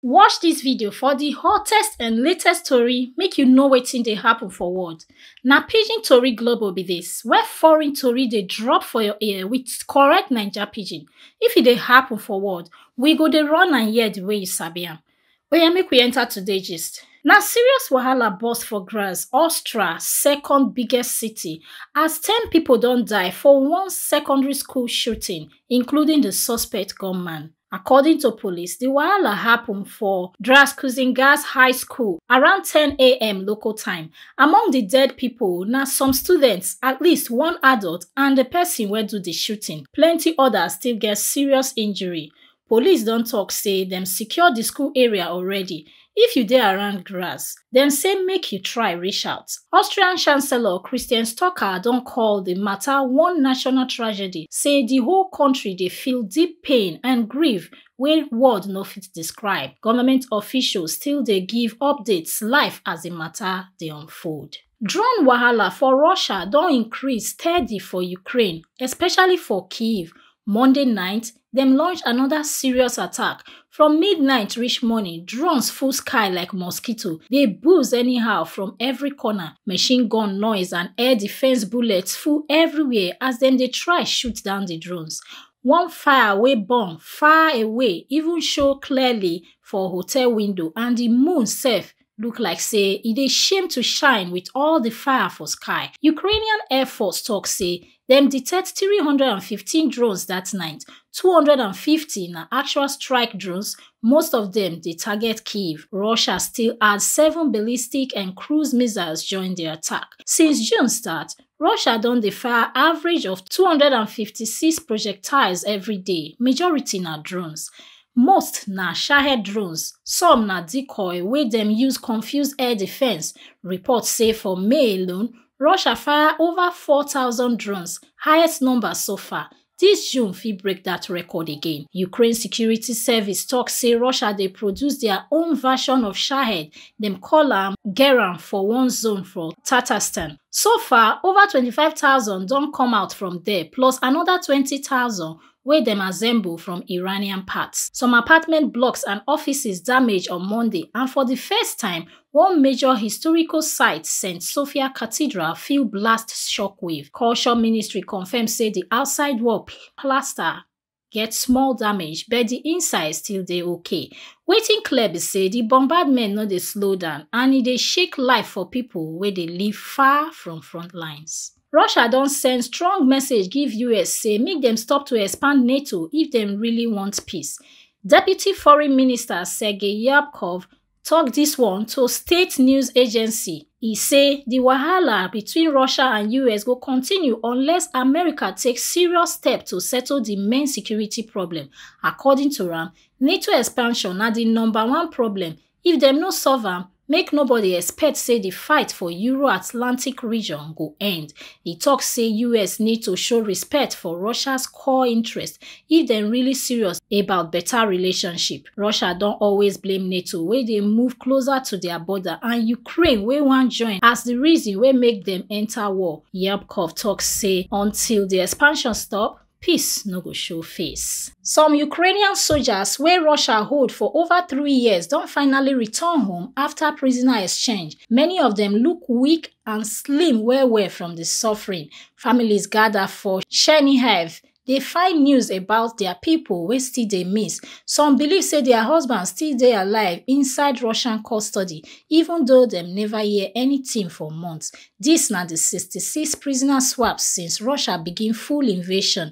Watch dis video for di hottest and latest tori make you know wetin dey happen for world. Na Pidgin Tori Global be dis, where foreign tori dey drop for your ear with correct Naija Pidgin. If e dey happen for world, we go dey run am hear the way you sabi am. Oya make we enter today gist. Na serious wahala burst for Graz, Austria, second biggest city, as ten pipo don die for one secondary school shooting, including di suspect gunman. According to police, the wahala happen for Draskuzingas High School around 10am local time. Among the dead people na some students, at least one adult and the person wey do the shooting. Plenty others still get serious injury. Police don talk say dem secure the school area already If you dey around Graz, dem say make you try reach out. Austrian Chancellor Christian Stocker don call di matter one national tragedy, say di whole country dey feel deep pain and grief wey word no fit describe. Government officials still dey give updates live as di matter dey unfold. Drone wahala for Russia don increase steady for Ukraine, especially for Kyiv. Monday night, dem launch another serious attack. From midnight reach morning, drones full sky like mosquito, dey buzz anyhow from every corner. Machine gun noise and air defense bullets full everywhere as dem dey try shoot down the drones. One fire wey burn far away even show clearly for hotel window and the moon sef look like say e dey shame to shine with all the fire for sky. Ukrainian Air Force talk say dem detect 315 drones that night, 250 na actual strike drones, most of them dey target Kyiv. Russia still add seven ballistic and cruise missiles join the attack. Since June start, russia don dey fire average of 256 projectiles every day majority na drones most na shahed drones some na decoy wey dem use confuse air defence reports say for may alone russia fire ova 4000 drones highest number so far Dis June fit break dat record again. Ukraine security service tok say Russia dey produce dia own version of Shahed, dem call am Geran for one zone for Tatarstan. So far, over twenty five thousand don come out from there plus anoda twenty thousand wey dem assemble from Iranian parts. Some apartment blocks and offices damage on Monday and for di first time, One major historical site, St. Sophia Cathedral, feel blast shockwave. Culture Ministry confirm say the outside wall plaster get small damage, but the inside still dey okay. Wetin clear be say the bombardment no dey slow down and e dey shake life for people wey dey live far from front lines. Russia don send strong message give US say make dem stop to expand NATO if dem really want peace. Deputy Foreign Minister Sergei Yabkov tok dis one to state news agency e say di wahala between russia and us go continue unless america take serious step to settle di main security problem according to am nato expansion na di number one problem if dem no solve am make nobody expect say di fight for euro-atlantic region go end e tok say us need to show respect for russia core interest if dem really serious about better relationship. Russia don always blame NATO wey dey move closer to their border and Ukraine wey wan join as the reason wey make dem enter war. Yabkov talk say until the expansion stop, peace no go show face. Some Ukrainian soldiers wey Russia hold for over three years don finally return home after prisoner exchange. Many of dem look weak and slim well well from the suffering. Families gather for Chernihiv. They find news about their people wey still dey miss. Some believe say their husbands still dey alive inside Russian custody, even though dem never hear anything for months. This na the 66 prisoner swaps since Russia begin full invasion.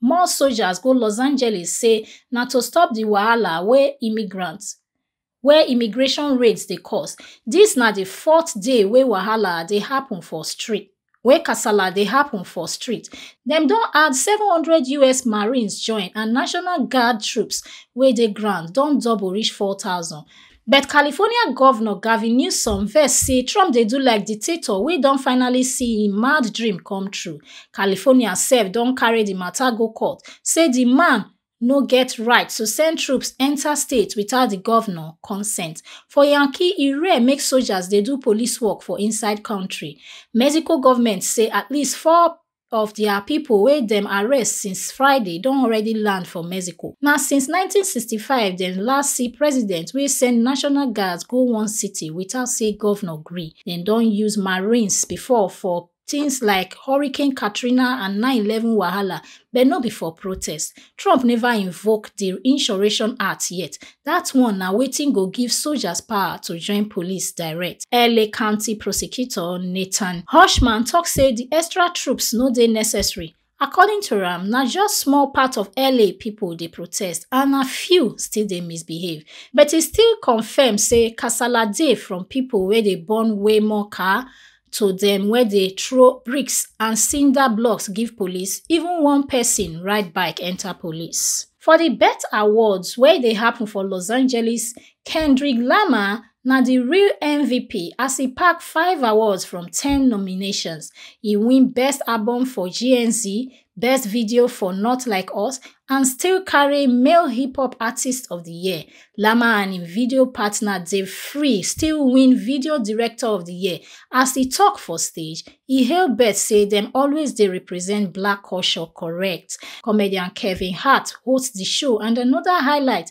more soldiers go los angeles say na to stop di wahala wey immigrant wey immigration raids dey cause dis na di fourth day wey wahala dey happun for street wey kasala dey happun for street dem don add 700 us marines join and national guard troops wey dey ground don double reach 4000 But California Govnor Gavin Newsom vex say Trump dey do like dictator wey don finally see im mad dream come true. California sef don carry di mata go court say di man no get right to send troops enta state without di govnor consent. For Yankee, e rare make sojas dey do police work for inside kontri. Mexico govment say at least four of dia pipo wey dem arrest since friday don already land for mexico na since 1965 dem last see president wey send national guards go one city without say govnor gree dem don use marines before for tins like hurricane katrina and 911 wahala but no be for protest Trump never invoke the Insurrection Act yet. That one na wetin go give soldiers power to join police direct. LA County Prosecutor Nathan Hushman talk say the extra troops no dey necessary. According to am, na just small part of LA people dey protest and na few still dey misbehave. But e still confirm say kasala dey from people wey dey burn Waymo car, to dem wey dey throw bricks and cinder blocks give police even one person ride bike enter police for di bet awards wey dey happen for los angeles kendrick lamar na di real mvp as e pack five awards from ten nominations e win best album for gnz Best Video for Not Like Us, and still carry Male Hip Hop Artist of the Year. Lama and im video partner Dave Free still win Video Director of the Year. As e talk for stage, e hail bet say dem always dey represent black culture correct. Comedian Kevin Hart host the show and another highlight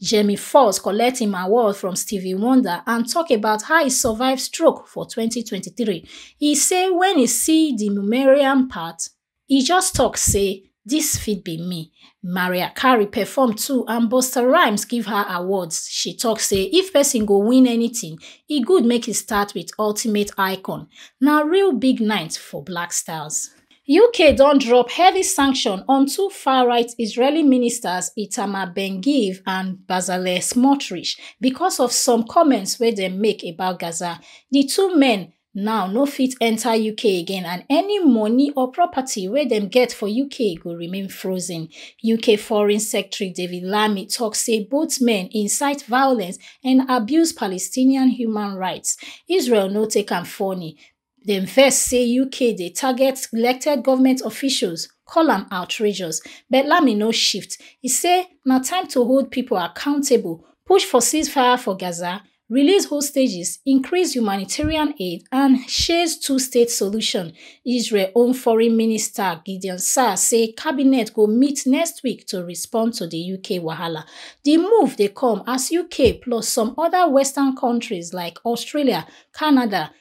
Jamie Foxx collect im award from Stevie Wonder and talk about how he survive stroke for 2023. He say when he see the Mumerian part, he just talk say this fit be me. Maria Carey perform too and Busta Rhymes give her awards. She talk say if person go win anything, e good make e start with Ultimate Icon. Na real big night for Black Stars. uk don drop heavy sanction on two far-right israeli ministers itamar ben-gvir and bezalel smotrich becos of some comments wey dem make about gaza di two men now no fit enta uk again and any money or property wey dem get for uk go remain frozen uk foreign secretary david lammy tok say both men incite violence and abuse palestinian human rights israel no take am funny dem vex say uk dey target elected goment officials call am outrageous but lami no shift e say na time to hold pipo accountable push for ceasefire for gaza release hostages increase humanitarian aid and chase twostate solution israel own foreign minister gideon saar say cabinet go meet next week to respond to di uk wahala di move dey come as uk plus some oda western kontris like australia canada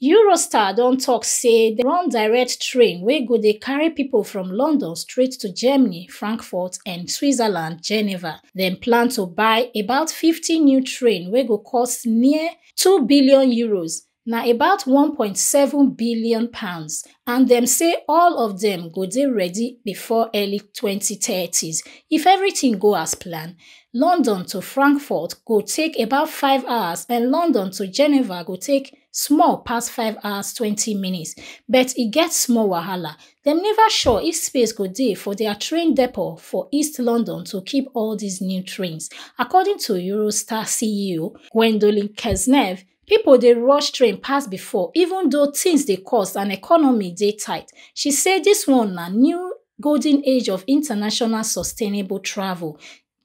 Eurostar don talk say they run direct train wey go dey carry people from London straight to Germany, Frankfurt and Switzerland, Geneva. Dem plan to buy about 50 new train wey go cost near 2 billion euros, na about 1.7 billion pounds and dem say all of dem go dey ready before early 2030s if everything go as planned. London to Frankfurt go take about 5 hours and London to Geneva go take small pass 5 hours 20 minutes but e get small wahala. Dem never sure if space go dey for their train depot for East London to keep all these new trains, according to Eurostar CEO Gwendolyn Kesnev, People dey rush train pass before, even though things dey cost and economy dey tight. She say this one na new golden age of international sustainable travel.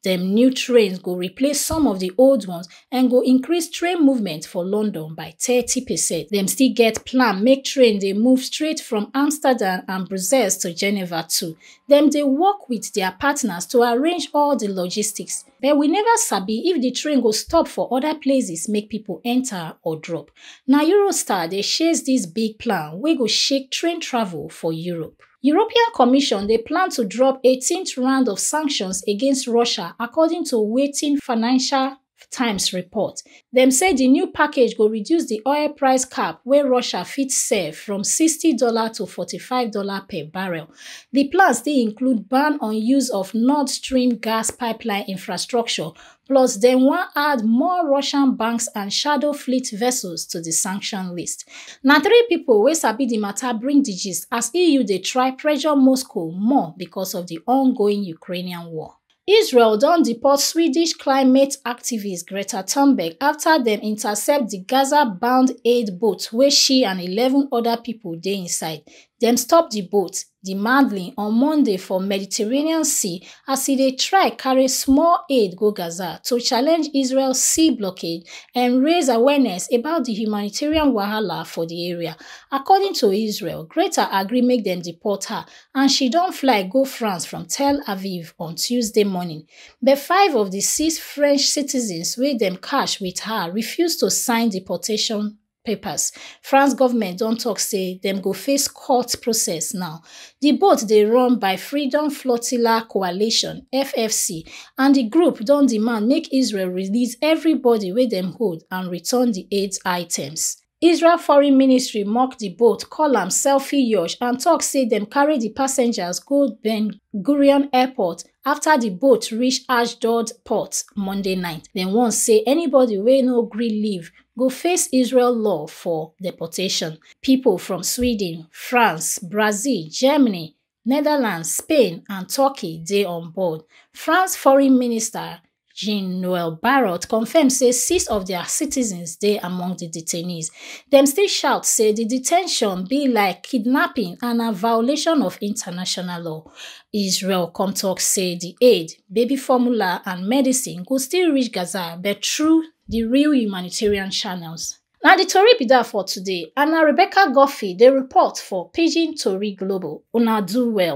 Dem new trains go replace some of the old ones and go increase train movement for London by 30 percent. Dem still get plan make train dey move straight from Amsterdam and Brussels to Geneva too. Dem dey work with their partners to arrange all the logistics. But we never sabi if the train go stop for other places make people enter or drop. Na Eurostar dey share this big plan wey go shake train travel for Europe. European Commission dey plan to drop 18th round of sanctions against Russia according to wetin Financial Times report. Dem say di new package go reduce di oil price cap wey Russia fit sell from sixty dollar to forty five dollar per barrel. Di plan still include ban on use of Nord Stream gas pipeline infrastructure, plus dem wan add more Russian banks and shadow fleet vessels to di sanction list. Na three pipo wey sabi di mata bring di gist as EU dey try pressure Moscow more becos of di ongoing Ukrainian war. Israel don deport Swedish climate activist Greta Thunberg after dem intercept di Gaza-bound aid boat wey she and 11 other people dey inside. Dem stop di boat, di Madlin, on Monday for Mediterranean Sea as e dey try carry small aid go Gaza to challenge Israel sea blockade and raise awareness about di humanitarian wahala for di area. According to Israel, Greta agree make dem deport her and she don fly go France from Tel Aviv on Tuesday morning, but five of the six French citizens wey dem catch with her refuse to sign deportation papers. France government don talk say dem go face court process now. The boat dey run by Freedom Flotilla Coalition (FFC) and the group don demand make Israel release everybody wey dem hold and return the aid items. Israel foreign ministry mock di boat, call am selfie yacht and tok say dem carry di passengers go Ben Gurion Airport afta di boat reach Ashdod port Monday night. Dem warn say anybody wey no gree leave go face Israel law for deportation. Pipo from Sweden, France, Brazil, Germany, netherlands spain and turkey dey on board france foreign minister jean-noel barrot confam say six of dia citizens dey among di detainees dem still shout say di de ten tion be like kidnapping and na violation of international law israel come tok say di aid baby formula and medicine go still reach gaza but through di real humanitarian channels Na di tori be dat for today and na Rebecca Guffey dey report for Pidgin Tori Global, una do well.